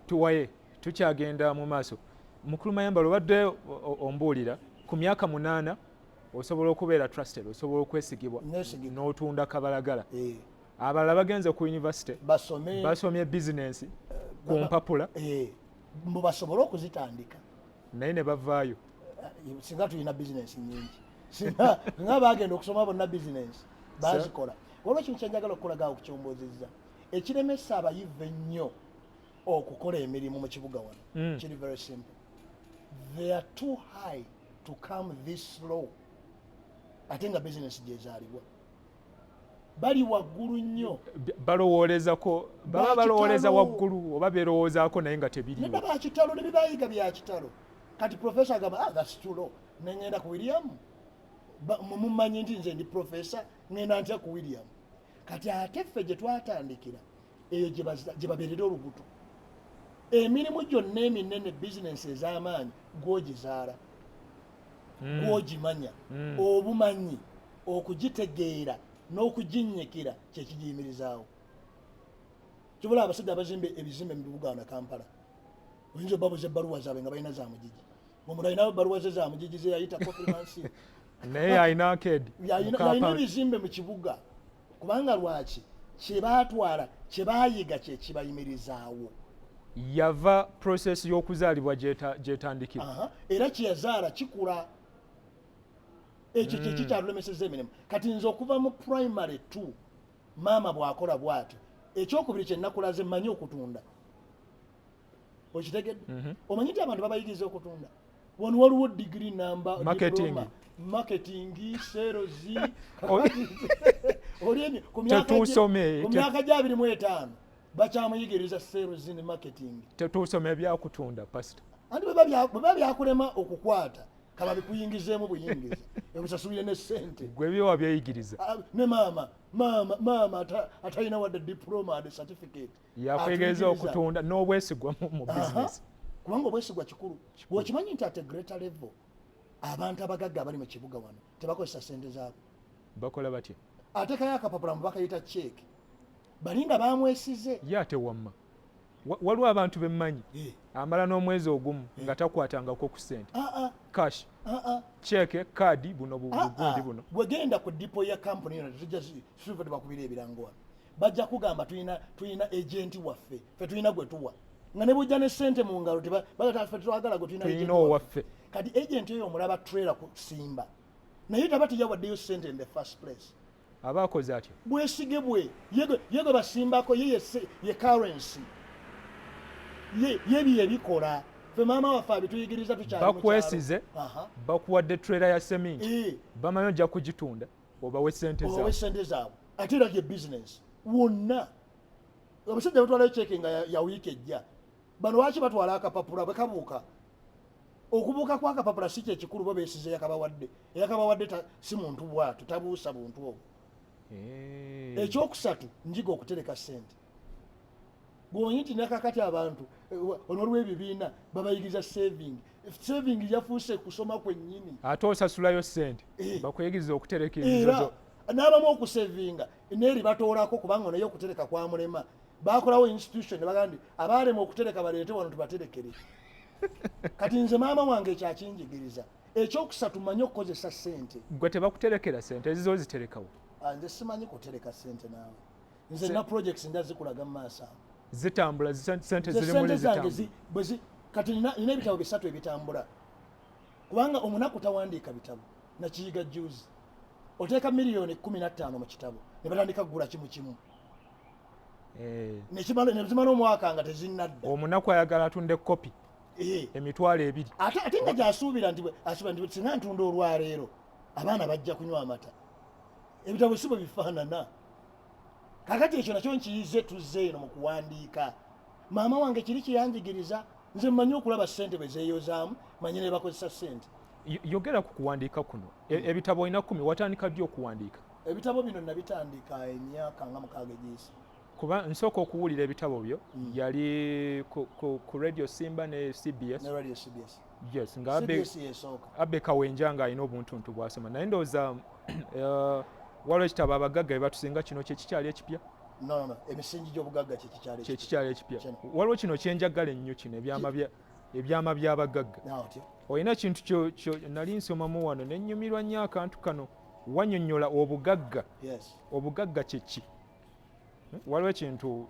tuwaye tukyagenda mu maaso mukulu mayambala obadde ombuulira ku myaka munaana osobola okubeera trusted osobola okwesigibwa n'otunda kabalagala eh. abalala bagenze ku univesity basomye bizinensi eh, ku mpapula eh, mbu basobole okuzitandika naye ne bavaayo singa tulina bizinensi nyingi singa nga bagenda okusoma bonna bizinensi bazikola waliwo kintu kyenjagala okukulaga okukyomboziza ekiremesa abayivu ennyo okukola emirimu mu kibuga wano mm. kiri very simple they are too high to come this low ate nga bizinesi gyezaalibwa bali waggulu nnyo balowoolezako baba balowooleza waggulu oba berowoozaako naye nga tebiriwo nedda bakitalo ne bibayiga bya kitalo kati profesa agamba ah, that's too low ne ngenda ku william mumumanyi nti nze ndi profesa ngenda ntya ku william kati ate ffe gye twatandikira eyo gye babeerera olubuto emirimu gyonna eminene bizinensi ez'amaanyi gwogizaala hmm. gwogimanya hmm. obumanyi okugitegeera n'okuginnyikira kyekigiyimirizaawo kibula abasajja abazimba ebizimbe mu bibuga na kampala oyinza obabuza ebbaluwa zaabwe nga balina za mugigi omulinayo ebbaluwa ze za mugigi ze yayita kofimansi naye alina akedi yalina ebizimbe mu kibuga kubanga lwaki kyebatwala kyebayiga kyekibayimirizaawo yava process y'okuzaalibwa gyetandikibwa uh -huh. era kyeyazaala kikula ekyo kyeki mm. kyalulemeseza emirimu kati nze okuva mu primary t maama bwakola bwatyo ekyokubiri kyenakulaze manyi okutunda okitegedde mhm. omanyi nti abantu babayigiriza okutunda wano waliwo digiri namba marketingi serozi olyemye ku myaka gya abiri mu etaano bakyamuyigiriza serozi ne marketingi tetuusoma ebyakutunda pasita anti bweba byakulema okukwata kaba bikuyingizeemu buyingizi ebusasulire ne sente gwe byowa byeyigiriza ah, ne maama maama maama atalina wadde diploma de certificate yakwegeza okutunda n'obwesigwa mu bizinesi kubanga obwesigwa kikulu bwekimanyi nti ate greater level abantu abagagga abali mu kibuga wano tebakozesa sente zaabwe bakola batya atekayo akapapula mu bakayita ceeke balinga bamwesize ye ate wamma waliwo abantu bemmanyi eh. amala n'omwezi ogumu eh. nga takwatangako ku sente ah, ah. cash ah, ceeke kaadi buno bugundi buno bwegenda ku dipo ya kampuni yona tujja sivadde bakubira ebirango wano bajja kugamba tulina tulina agenti waffe fe tulina gwe tuwa nga ne bujja ne sente mu ngalo tebafe twagala gwe tulina owaffe kati agenti oyo omulaba trailer ku simba naye taba teyawaddeyo sente in the first place aba akoze atyo bwesige bwe yegwe basimbako ye ye currency yebyo ebikola fe maama waffe abituyigiriza tukyabakwesize bakuwadde trailer ya seminti eh. bamanyi ojja kugitunda obawe sente zaabwe sente zaabwe ate era ye business wonna abasajja batwalayo ceeke nga ya wiiki ejja bano lwaki batwala akapapula bwekabuuka okubuuka kwakapapula si kyekikulu bo besiza eyakabawadde eyakabawadde si muntu bwatu tabuusa buntu obwo eh. ekyokusatu njiga okutereka sente bwonyi nti nakakati abantu eh, olwolwebibiina babayigiriza saving saving yafuuse kusoma kwenyini ate osasulayo sente eh. bakuyigiriza okutereka era n'abamu okusavinga neeri batoolako kubanga naye okutereka kwamulema bakolawo institution nebagaa nti abaalema okutereka baleete wano tubaterekere kati nze maama wange ekyakinjigiriza ekyokusatu manye okukozesa sente gwe tebakuterekera sente ezizo ziterekawo ah, nze simanyi kutereka sente naawe nze na projects nda zikulaga mu maaso awo zitambula sente ziri mu zange kati nina ebitabo bisatu ebitambula kubanga omunaku tawandiika bitabo nakiyiga juzi oteeka miliyoni kumi na ttaano mu kitabo ne batandika kugula kimu kimu eh. nezimala omwaka nga tezinadda omunaku ayagala atunde kopi eh. emitwalo ebiri ate nga gyasuubira nti asuubira nti singa ntunda olwaleero abaana bajja kunywa amata ebitabo si bwe bifaanana kakati ekyo nakyo nkiyize tuzze eno mu kuwandiika maama wange kiri kyeyanjigiriza nze mmanyi okulaba ssente bwe zeeyozaamu manyi ne bakozesa ssente yogera ku kuwandiika kuno e, hmm. ebitabo olina kumi watandika ddi okuwandiika ebitabo bino nabitandika emyaka nga mukaaga egyeyisa kuba nsooka okuwulira ebitabo byo hmm. yali ku radio simba ne cbs yes nga abe abe kawenja nga alina obuntuntu bwasoma naye ndowooza uh, waliwo ekitabo abagagga bebatusinga kino kyekikyali ekipya emisingi gyobugagga kyekikyali ekipya waliwo kino kyenjagala ennyo kino ebyama byabagagga olina ekintu nali nsomamu wano nenyumirwa nnyo akantu kano wanyonyola obugagga obugagga kyeki Hmm? waliwo ekintu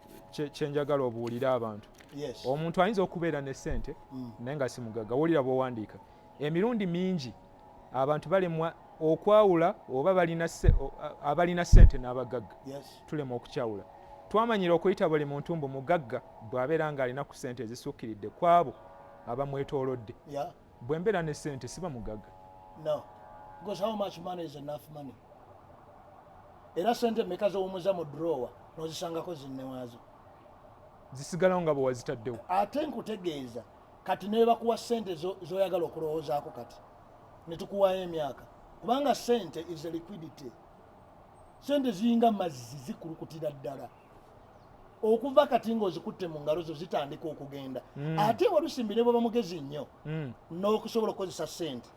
kyenjagala obuulire abantu omuntu ayinza okubeera ne sente hmm. naye nga si mugagga wulira bwowandiika emirundi mingi abantu balemwa okwawula oba abalina sente n'abagagga tulema okukyawula twamanyira okuyita buli muntu mbu mugagga bw'abeera ng'alina ku sente ezisukkiridde kwabo abamwetoolodde Bwe mbeera ne ssente siba mugagga. No. Because how much money is enough money? Era ssente mmeka z'owummuza mu drawer n'ozisangako zinne waazo? Zisigalawo nga bwe wazitaddewo. Ate nkutegeeza kati ne bakuwa ssente z'oyagala okulowoozaako kati ne tukuwaayo emyaka kubanga ssente is a liquidity. Ssente ziringa mazzi zikulukutira ddala. okuva kati ng'ozikutte mu ngalo zo zitandika okugenda mm. ate walusimbi ne bweba mugezi nnyo mm. n'okusobola okukozesa sente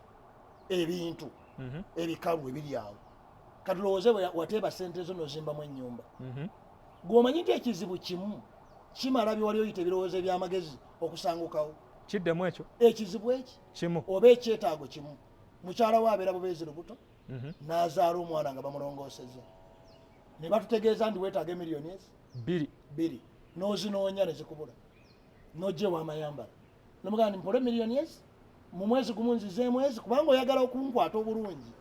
ebintu mm -hmm. ebikalu ebiri awo kati lowooze wateeba sente zo nozimbamu ennyumba mm -hmm. gweomanyi nti ekizibu kimu kimala byewali oyita ebirowoozo ebyamagezi okusangukawo kiddemu ekyo ekizibu eki kimu oba ekyetaago kimu mukyala wo abeera bubeezi lubuto mm -hmm. n'azaala omwana nga bamulongooseza ne batutegeeza ndi weetaaga emiliyoni ezi bbiri bbiri n'ozinoonya ne zikubula n'ojja ewamayambala nomugamba ndi mpole miliyoni ezi mu mwezi gumu nzizeemu ezi kubanga oyagala okunkwata obulungi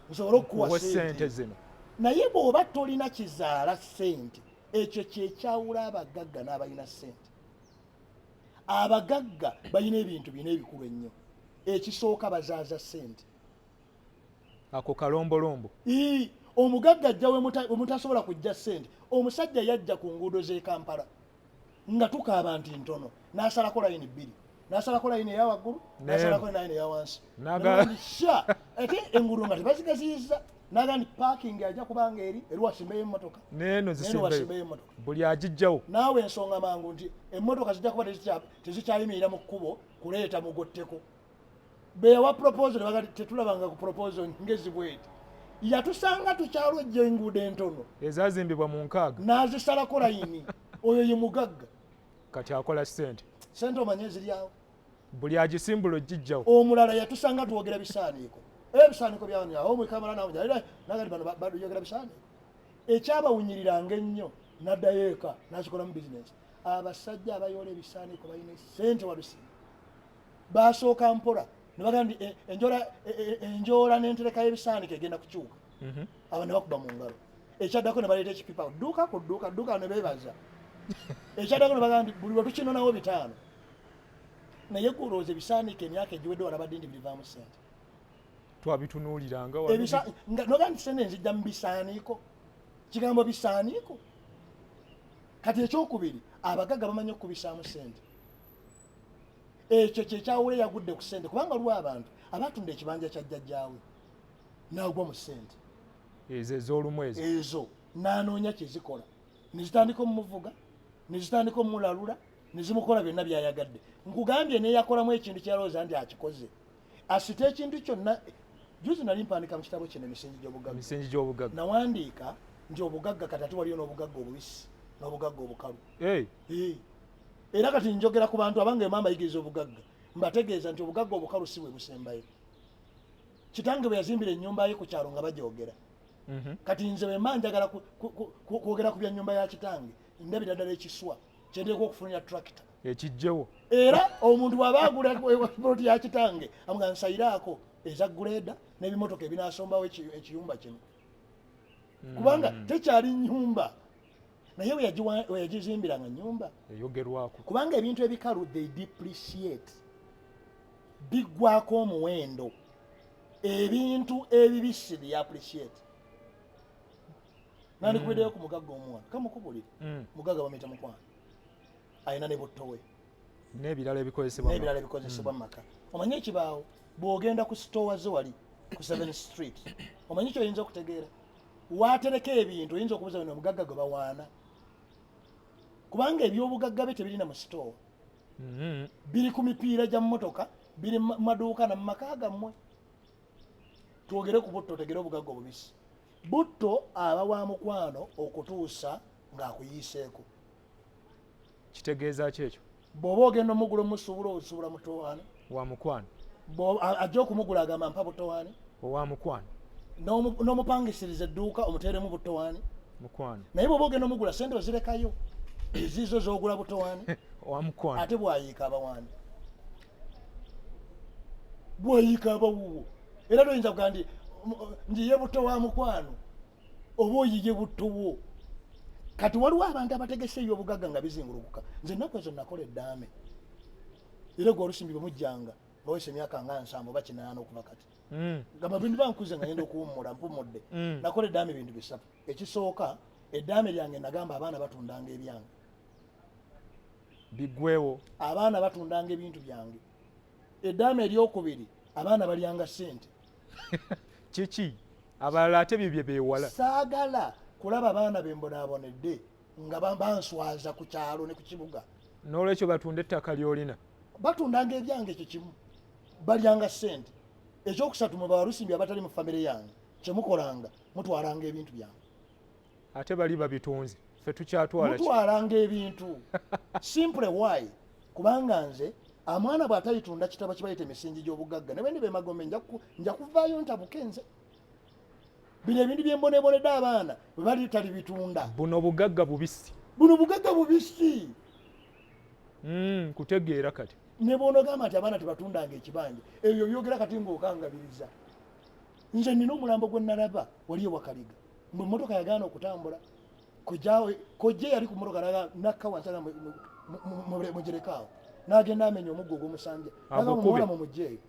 nsobole okukuwa sente zino naye bw'oba tolina kizaala sente ekyo kyekyawula abagagga n'abalina sente abagagga balina ebintu bina ebikulu ennyo ekisooka bazaaza sente ako kalombolombo ii omugagga ajja wemutasobola kujja ssente omusajja yajja ku nguudo z'e kampala nga tukaaba nti ntono n'asalako layini bbiri n'asalako layini eya waggulu n'asalako layini eya wansi sha ate enguudo nga tebazigaziyiza naga nti paakingi ajja kubanga eri eri wasimbeyo emmotoka neeno zisimbeyo emmotoka buli agijjawo naawe ensonga mangu nti emmotoka zijja kuba tezikyayimirira mu kkubo kuleeta mugotteko beyawa proposal nebaga tetulabanga ku proposal ngezi bweti yatusanga tukyalojja enguudo entono ezazimbibwa mu nkaaga nazisalako layini oyo ye mugagga kati akola sente sente omanye ziryawo buli agisimbula ojijjawo omulala yatusanga twogera bisaaniiko ebisaaniiko byawanyaomwekamalaayogera bisaaniiko ekyabawunyiriranga ennyo naddayo eka nazikolamu bizinesi abasajja abayoola ebisaaniiko balina sente wabisima baasooka mpola ne bagamba nti eh, eh, eh, enjoola n'entereka y'ebisaaniko egenda kukyuka mhm. aba ne bakuba mu ngalo ekyaddako ne baleeta ekipipa dduuka ku dduuka dduuka ne beebaza ekyaddako ne bagamba nti buli lwe tukinonawo bitaano naye kulowooza ebisaaniko emyaka egiwedde wala badde nti birivaamu ssente twabitunuuliranga nogaa nti sente nzijja mu bisaaniiko kigambo bisaaniiko kati ekyokubiri abagagga bamanyi okukubisaamu ssente ekyo kyekyawula eyagudde ku sente kubanga waliwo abantu abatunda ekibanja kya jjajjaawe nagwa mu sente ezo ezolumu ezo ezo nanoonya kyezikola nezitandika omumuvuga nezitandika omulalula nezimukola byonna byayagadde nkugambye neyakolamu ekintu kyalowooza nti akikoze asita ekintu kyonna juzi nali mpandika mu kitabo kino emisingi gyobugagamisingi gyobugagga nawandiika nti obugagga katati waliyo n'obugagga obubisi n'obugagga obukalu era kati njogera ku bantu abange mama yigiriza obugagga mbategeeza nti obugagga obukalu si bwe busembayo kitange bwe yazimbira ennyumba ye ku kyalo nga bagyogera mhm. kati nze wema njagala kwogera ku bya nnyumba ya kitange ndabira ddala ekiswa kyendeku okufunira tractor ekijjewo era omuntu bwaba agula ploti ya kitange amuga nsayiraako eza guleeda n'ebimotoka ebinasombawo ekiyumba kino kubanga mm. tekyali nyumba naye weyagizimbira nga nyumba eyogerwako kubanga ebintu ebikalu they depreciate biggwako omuwendo ebintu ebibisi they appreciate nandikubedeyo mm. ku mugagga omwana kamukubulire mm. mugagga bamuyita mukwano alina ne buttowe nebirala ebikozesebwanebirala ebikozesebwa mm. mumaka omanyi ekibaawo bwogenda ku sitowa ze wali ku seven street omanyi kyoyinza okutegeera waatereka ebintu oyinza okubuza bino obugagga gwe bawaana kubanga ebyobugagga bye tebirina mu sitoowa mm-hmm. biri ku mipiira gya mmotoka biri mu maduuka na mu maka gammwe twogere ku butto otegere obugagga obubisi butto aba wa mukwano okutuusa ng'akuyiiseeko kitegeeza ki ekyo bw'oba ogenda omugula omusuubula osuubula mutowaani wa mukwano ajja okumugula agamba mpa butowaani owa mukwano n'omupangisiriza edduuka omuteeremu butowaani mukwano naye bw'oba ogenda omugula sente ozirekayo eziizo z'ogula butowaani owa mukwano ate bwayiika abawaani bwayiika abawuwo era toyinza kugamba nti njiye buto wa mukwano oba oyiye butto bwo kati waliwo abantu abategese ebyobugagga nga bizingulukuka nze ennaku ezo nakola eddaame era gwe olusimbi bemujjanga bawesa emyaka nga nsanvu oba kinaana okuva kati hmm. gamba bintu bankuze nga yenda okuwummula mpumudde hmm. nakola eddaame bintu bisatu ekisooka eddaame lyange nagamba abaana batundanga ebyange bigwewo abaana batundanga ebintu byange eddaame eryokubiri abaana balyanga sente kiki abalala ate bye bye bewala saagala kulaba baana be mbonaabonedde nga banswaza ku kyalo ne ku kibuga n'olwekyo batunda ettaka ly'olina batundanga ebyange ekyo kimu balyanga ssente ekyokusatu mwe bawalusimbi abatali mu famire yange kyemukolanga mutwalanga ebintu byange ate bali babitunze fe tukyatwala mutwalanga ebintu simple why kubanga nze amwana bwatayitunda kitabo kibayita emisingi gy'obugagga ne bendi bemagombe nja kuvaayo ntabuke nze bino ebintu byembonebonedde abaana webali tali bitunda buno bugagga bubisi buno bugagga bubisi hmm, kutegeera kati nebwonogamba nti abaana tebatundanga ekibanja ebyo byogera kati ngaokangabiriza nze nina omulambo gwenalaba waliyo wakaliga mwe motoka yagaana okutambula kojjawe kojja yali ku motoka naga nakka wansi aga mugirekaawo nagenda amenya omuggo ogwomusanja naga mumuwola mu mujja eyo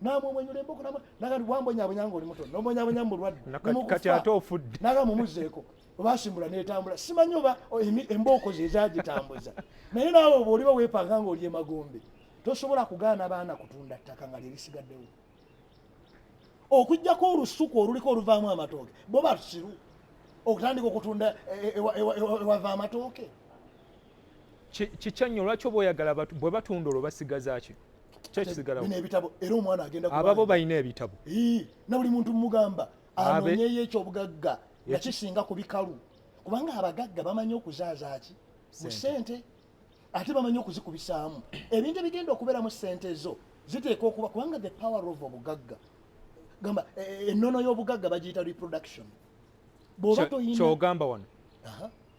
namumwenyula emboko naga wambonyabonya nga oli muto nomwonyabonya mu bulwadde kati ate ofudde naga mumuzeeko obasimbula netambula simanyi oba embooko ze ezagitambuza naye naawe oba oliba wepanga nga oli emagombe tosobola kugaana baana kutunda ttaka nga lyerisigaddewo okujjako olusuku oluliko oluvaamu amatooke bo basiru okutandika okutunda ewava amatooke kikyannyo lwaki oba oyagala bwe batunda olwo basigazaki kyekisigalaababo balina ebitabo na buli muntu mugamba anonyeyo ekyobugagga nga kisinga ku bikalu kubanga abagagga bamanyi okuzaazaaki mu sente ate bamanyi okuzikubisaamu ebintu ebigenda okubeeramu ssente zo ziteeka okuba kubanga the power of obugagga gamba e, e, ennono y'obugagga bagiyita reproduction bwoba toyinakyogamba wano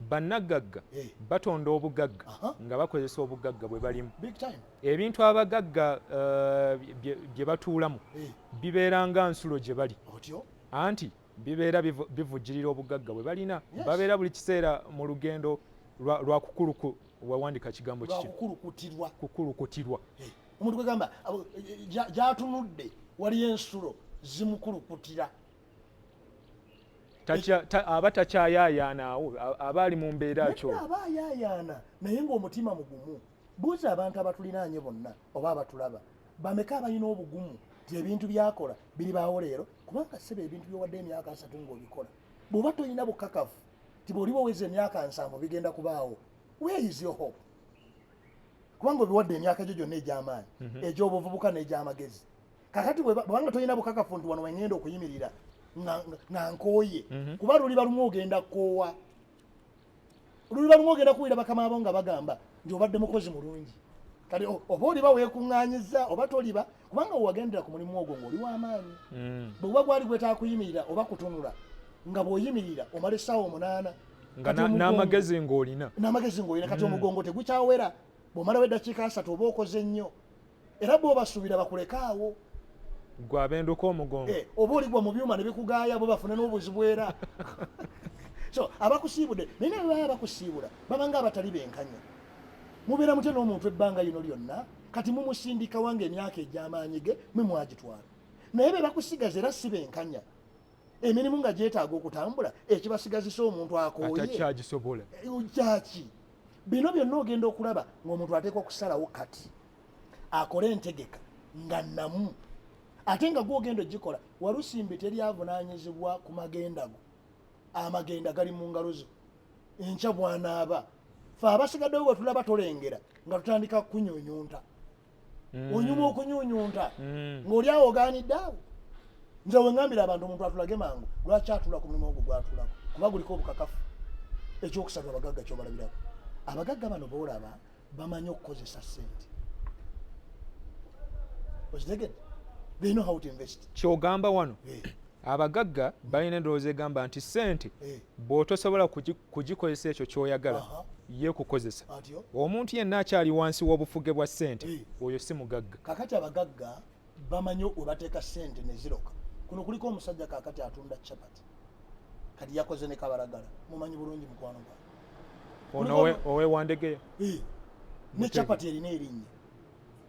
bannaggagga eh. batonda obugagga nga bakozesa obugagga bwe balimu ebintu abagagga uh, bye batuulamu eh. bibeera nga nsulo gye bali anti bibeera bivujjirira obugagga bwe balina babeera buli kiseera mu lugendo lwa kukuluku wawandika kigambo kikikukulukutirwa kukulukutirwa eh, omuntu kwegamba eh, gyatunudde waliyo ensulo zimukulukutira aba takyayayaana awo aba ali mu mbeera kyo aba ayayaana naye ngaomutima mugumu buuza abantu abatulinaanye bonna oba abatulaba bameka abalina obugumu ti ebintu byakola biri baawo leero kubanga sebe ebintu byowadde emyaka asatu ngaobikola bw'oba tolina bukakafu ti bwoliba oweza emyaka nsanvu bigenda kubaawo weyiziyo hope kubanga obiwadde emyaka gyo gyonna egy'amaanyi mhm. egy'obuvubuka n'egy'amagezi kakati bwebanga tolina bukakafu nti wano wengenda okuyimirira nga nkooye mhm. kuba luliba lumu ogenda koowa olulibalumu ogenda kuwulira bakama abo nga bagamba nti obadde mukozi mulungi kati oba oliba weekuŋŋaanyiza oba toliba kubanga wewagendera ku mulimu ogwo ng'oli w'amaanyi mm. bwe guba gwali gwetaaga kuyimirira oba kutunula nga bw'oyimirira omala essaawa omunaana n'amagezi ng'olina n'amagezi ng'olina kati mm. omugongo tegukyawera bw'omalawo eddakiika asatu oba okoze nnyo era bwobasuubira bakuleka awo gwe abenduka omugongo eh, oba oligwa mu byuma ne bikugaaya bo bafune n'obuzibu era so abakusiibude naye naye baba bakusiibula babanga abatali benkanya mubeera mutya n'omuntu ebbanga lino lyonna kati mumusindika wange emyaka egy'amaanyi ge mwe mwagitwala naye be bakusigaza era si benkanya emirimu nga gyetaaga okutambula ekibasigazisa omuntu akooye eh, kyaki bino byonna ogenda okulaba ng'omuntu ateekwa okusalawo kati akole entegeka nga namu ate nga gwogenda ogikola walusimbi teri avunanyizibwa ku magenda go amagenda gali mu ngalo zo enkya bwanaaba fe abasigaddewo bwetulaba tolengera nga tutandika kunyunyunta mm. onyuma okunyunyunta mm. ng'oli awo ogaanidde awo nze wengambira abantu omuntu atulage mangu lwaki atula ku mulimu ogwo gwatulako kuba guliko obukakafu ekyokusatu abagagga kyobalabirako abagagga bano boolaba bamanyi okukozesa sente okitegedde they know how to invest kyogamba wano yeah. abagagga balina endowooza egamba nti sente eh. bwotosobola kugikozesa ekyo kyoyagala yekukozesa omuntu yenna akyali wansi w'obufuge bwa sente eh. oyo si mugagga kakati abagagga bamanyi webateeka sente neziroka kuno kuliko omusajja kakati atunda chapati kati yakoze ne kabalagala mumanyi bulungi mukwano gwa ono owewandegeya eh. ne chapati erina erinnya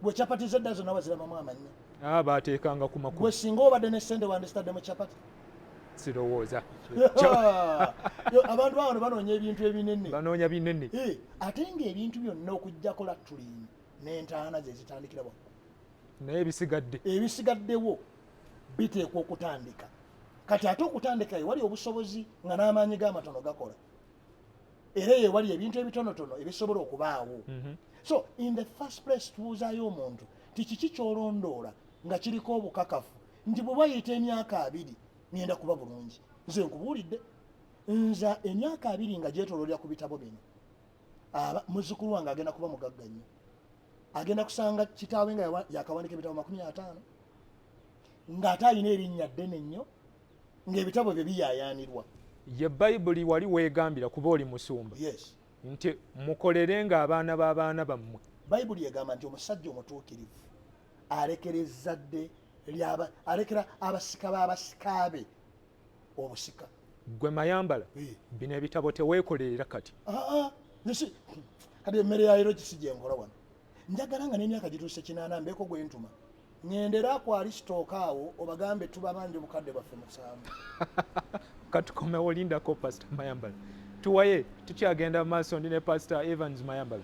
gwe chapati zedda zonna wazirabamu amannya ah, bateekanga ku makulu gwe singa obadde ne sente wandisitadde mu chapati sirowooza abantu bawano banoonya ebintu ebinene banoonya binene eh, ate ngaebintu byonna okujjako latulini n'entaana ze zitandikira waku naye ebisigadde ebisigaddewo biteekwa okutandika kati ate okutandika ye wali obusobozi nga n'amaanyi g'amatono gakola era eyo ewali ebintu ebitonotono ebisobola okubaawo mhm. so in the first place tubuuzayo omuntu nti kiki kyolondoola nga kiriko obukakafu nti bwe bayita emyaka abiri ngenda kuba bulungi nze nkubuulidde nza emyaka abiri nga gyetololera ku bitabo bino aba muzukulu wange agenda kuba mugagga nnyo agenda kusanga kitaawe nga yakawandika ebitabo makumi ataano ng'ate alina erinnya ddene nnyo ng'ebitabo byo biyaayaanirwa ye bayibuli wali weegambira kuba oli musumba yes nti mukolere ng'abaana b'abaana bammwe bayibuli egamba nti omusajja omutuukirivu alekera ezzadde lyaba alekera abasika b'abasika be obusika gwe mayambala Eh. bino ebitabo teweekolerera kati Aa, nsi kati emmere ya leero kisi gyenkola wano njagala nga n'emyaka gituuse kinaana mbeeko gwentuma ŋendera ku alisitooka awo obagambe tubabanja obukadde bwaffe musanvu katukomewo lindako pasita mayambala tuwaye tukyagenda maaso ndi ne pasita evans mayambala